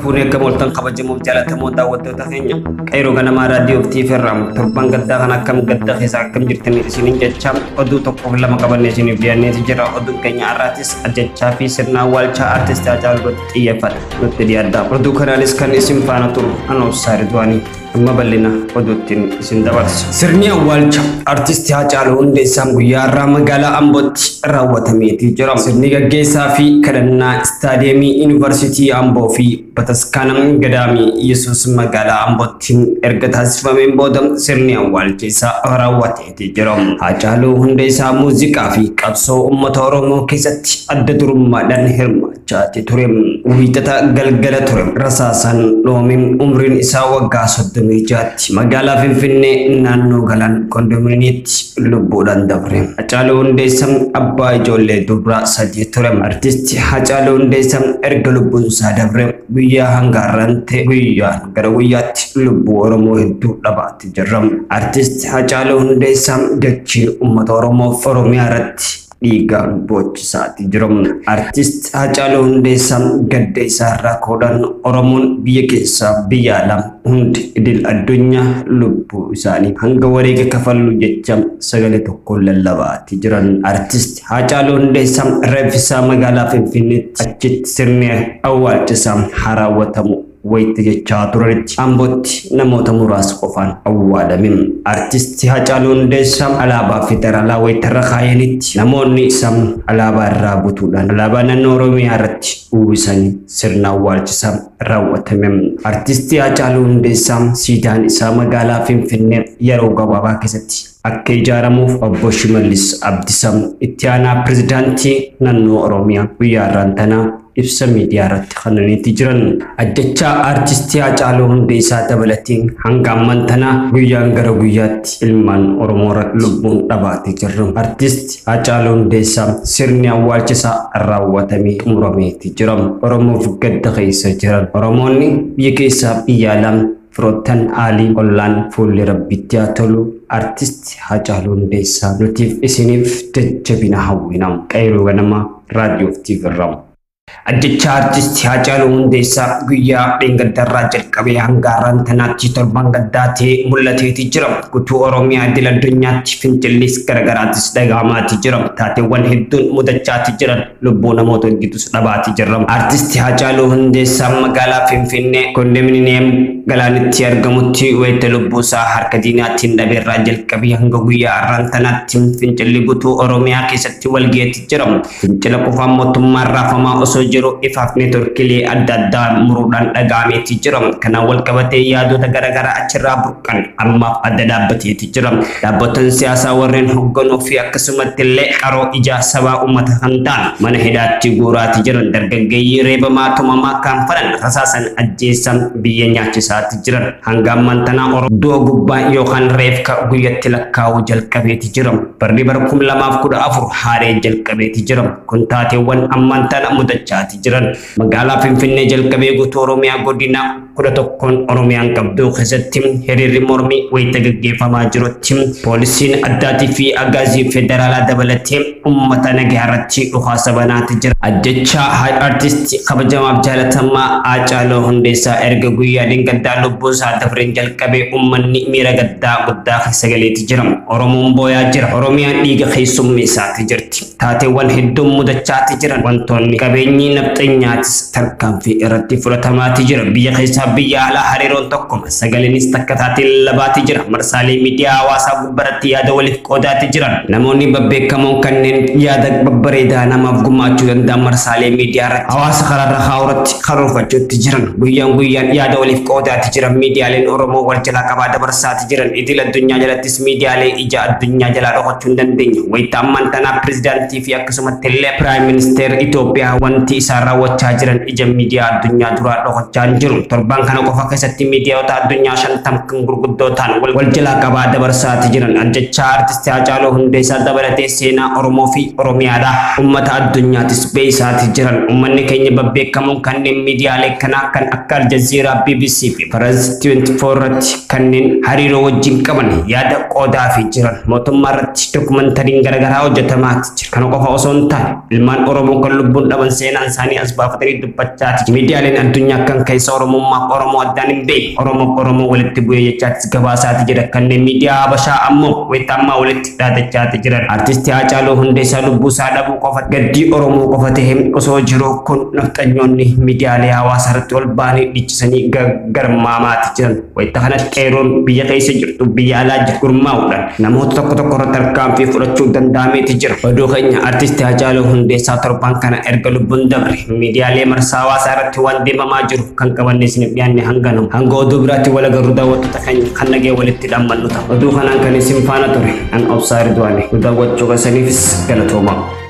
Fuudhee akka booltan kabajamuuf jaalatamoo daawwattoota keenya qeeroo ganamaa raadiyoo fi TV irraa torban gaddaa kan akkam gadda keessaa akkam jirtanii isiniin jechaa oduu tokkoof lama qabannee isiniif dhiyaanneeti jira oduun keenya har'aatis ajjechaa fi sirna awwaalchaa artistii Haacaaluu irratti xiyyeeffata nutti dhiyaadha oduu kanaanis kan isin faana turu anoo Saaridwaanii. Amma bal'ina oduuttiin isin dabarsa. Sirni awwaalcha artisti Haacaaluu Hundeessaan guyyaa har'aa magaalaa Ambootti raawwatameetii jira. Sirni gaggeessaa fi kadhannaa istaadiyeemii Yuunivarsiitii Amboo fi bataskaana gadaamii Yesuus magaalaa Ambootti erga taasifameen booda sirni awwaalcha isaa raawwateetii jira. Haacaaluu Hundeessaa muuziqaa fi qabsoo uummata Oromoo keessatti adda durummaadhaan hirmaata. chaati ture wiixata galgala ture rasaasan dhoomin umriin isaa waggaa soddomii jaatti magaalaa finfinnee naannoo galaan kondominiitti lubbuudhaan dabre hacaaluu hundeessa abbaa ijoollee dubraa sadii ture artisti hacaaluu hundeessa erga lubbuun isaa dabre guyyaa hanga har'aan ta'e guyyaan gara guyyaatti lubbuu oromoo hedduu dhabaatti jirra artisti hacaaluu hundeessa dachiin uummata oromoof oromiyaa irratti Dhiigaan boochisaa jiramu. Artist Haacaaluu Hundeessaa gadda isaa irraa ka'uudhaan Oromoon biyya keessaa biyya alaa hundi idil addunyaa lubbuu isaanii hanga wareega kafallu jecha sagalee tokkoon lallabaati jiran. Artist Haacaaluu Hundeessaa reeffi isaa magaalaa Finfinneetti achitti sirni awwaalcha isaa haa raawwatamu. wayita jechaa turanitti Ambootti namoota muraasa qofaan awwaalame. Artisti Hacaaluu Hundeessaa alaabaa federaalaa wayita irra kaayanitti namoonni isaa alaabaa irraa butuudhaan alaabaa naannoo Oromiyaa irratti uwwisanii sirna awwaalchisaa raawwatame. Artisti Hacaaluu Hundeessaa siidaan isaa magaalaa Finfinnee yeroo gabaabaa keessatti akka ijaaramuuf obbo Shimallis Abdisaa itti aanaa pirezidaantii naannoo Oromiyaa guyyaa irraan tanaa ibsa miidiyaarratti kennaniiti jiran. Ajjechaa Aartistii Haacaaluu Hundeessaa dabalatee hanga amman tana guyyaan gara guyyaatti ilmaan Oromoora lubbuun dhabaati jirra. Artisti Haacaaluu Hundeessaa sirni awwaalcha isaa raawwatamee xumurameeti jira. Oromoof gadda keessa jiran. Oromoonni biyya keessaa biyya alaa Firoottan Aalii Ollaan Fuulli Rabbitti Haa Tolu Artist Haacaaluu Hundeessaa Nutiif Isiniif Jajjabina Hawwina Qeyroo Ganamaa Radio fi TV irraa. Ajjechaa Artisti Haacaaluu Hundeessaa guyyaa dheengaddarraa jalqabee hanga har'aan tanaatti torban gaddaa ta'ee mul'ateeti jira. Gutuu Oromiyaa idil addunyaatti finxillis garagaraattis dhaga'amaati jira. Taateewwan hedduun mudachaati jiran. Lubbuu namoota gidduus dhabaatii jirra. Artisti Haacaaluu Hundeessaa magaalaa Finfinnee kondominiyeem galaanitti argamutti wayita lubbuusaa harka diinaatiin dhabeerraa jalqabee hanga guyyaa har'aan tanaatti fincilli guutuu Oromiyaa keessatti walgaheetti jira. Fincila qufaan mootummaan raafamaa osoo jiru ifaaf neetworkiilee adda addaa muruudhaan dhaga'ameetti jira. Kanaan walqabatee yaadota garaagaraa achirraa kan ammaaf adda dhaabbateeti jira. Dhaabbattoonni siyaasaa warreen hogganuu fi akkasumatti illee qaroo ijaa sabaa uummata kan ta'an mana hidhaatti guuraati jiran dargaggeeyyii reebamaa tumamaa kan fadhan rasaasan ajjeessan biyya nyaachisaati jiran hanga ammaan tanaa oro du'a gubbaa yookaan reefka guyyatti lakkaa'uu jalqabeeti jira. Barri bara kum lamaaf kudha afur haaree jalqabeeti jira. Kun taateewwan ammaan tana mudachaati jiran. Magaalaa Finfinnee jalqabee guutuu Oromiyaa godina 11n Oromiyaan qabduu keessatti hiriirri mormii wayita gaggeeffamaa jirutti poolisiin addaatii fi agaazii federaalaa dabalatee uummata nagaa irratti dhukaasa banaati jira. Ajjechaa Haaj Artisti kabajamaaf jaalatamaa Haacaaluu Hundeessaa erga guyyaa dheengaddaa lubbuun isaa dabreen jalqabee uummanni miira gaddaa guddaa keessa galeeti jira. Oromoon booyaa jira. Oromiyaan dhiiga keessummeessaati jirti. Taateewwan hedduun mudachaati jiran wantoonni qabeenyi nafxanyaatis tarkaanfii irratti fudhatamaati jira. Biyya keessaa biyya alaa hariiroon tokkuma. Sagaliinis takka taatiin labaati jira. Marsaalee miidiyaa hawaasaa gubbaratti yaada waliif qoodaati jiran. Namoonni babbeekamoon kanneen yaada babbareedaa namaaf gumaachuu danda'an marsaalee miidiyaa irratti hawaasa karaarra kaa'u irratti karoorfachuutti jiran. Guyyaan guyyaan yaada waliif qoodaati jiran. Miidiyaaleen Oromoo wal jalaa qabaa dabarsaati jiran idil addunyaa jalattis miidiyaalee ija addunyaa jalaa dhokachuu hin dandeenye. Wayita ammaan tanaa pirezidaantii fi akkasumatti illee piraayim ministeer Itoophiyaa wanti isaan raawwachaa jiran ija miidiyaa addunyaa duraa dhokachaa hin jiru. Torban kana qofa keessatti miidiyaota addunyaa shantam kan gurguddoo ta'an wal wal jalaa qabaa dabarsaati jiran. Ajjechaa artisti Haacaaluu Hundeessaa dabalatee seenaa Oromoo fi Oromiyaadha. Ummata addunyaatis beeysaati jiran. Ummanni keenya babbeekamoon kanneen miidiyaalee kanaa kan akka Aljazeeraa, BBC fi Faraz 24 irratti kanneen hariiroo wajjin qaban yaada qoodaa fi jiran mootummaa irratti dokumentariin garaagaraa hojjetamaati jira. Kana qofa osoo hin taane ilmaan Oromoo kan lubbuun dhaban seenaan isaanii as baafatanii dubbachaati. Miidiyaaleen addunyaa kan keessa Oromummaaf Oromoo addaan hin beekne Oromoof Oromoo walitti bu'ee jechaatis gabaasaati jira. Kanneen miidiyaa Habashaa ammoo wayita ammaa walitti dhaadachaati jiran. Artisti Haacaaluu Hundeessaa lubbuu isaa dhabuu qofa gaddii Oromoo qofa ta'e osoo jiru kun nafxanyoonni miidiyaalee hawaasaa irratti ol ba'anii dhichisanii garmaamaati jiran. Wayita kanatti qeeroon biyya keessa jirtu biyya alaa jiru gurmaa'uudhaan namoota tokko tokko irratti tarkaanfii fudhachuu danda'ameeti jira. Oduu keenya artisti Haacaaluu Hundeessaa torban kana erga lubbuun dabre miidiyaalee marsaa hawaasaa irratti waan deemamaa jiru kan qabanne isiniif dhiyaanne hanga nama. Hanga oduu biraatti wal agarru daawwattoota. kan kan nagee walitti dhammannu ta'a. Oduu kanaan kan isin faana ture an obsaa Ridwaani. Nu daawwachuu keessaniifis galatoomaa.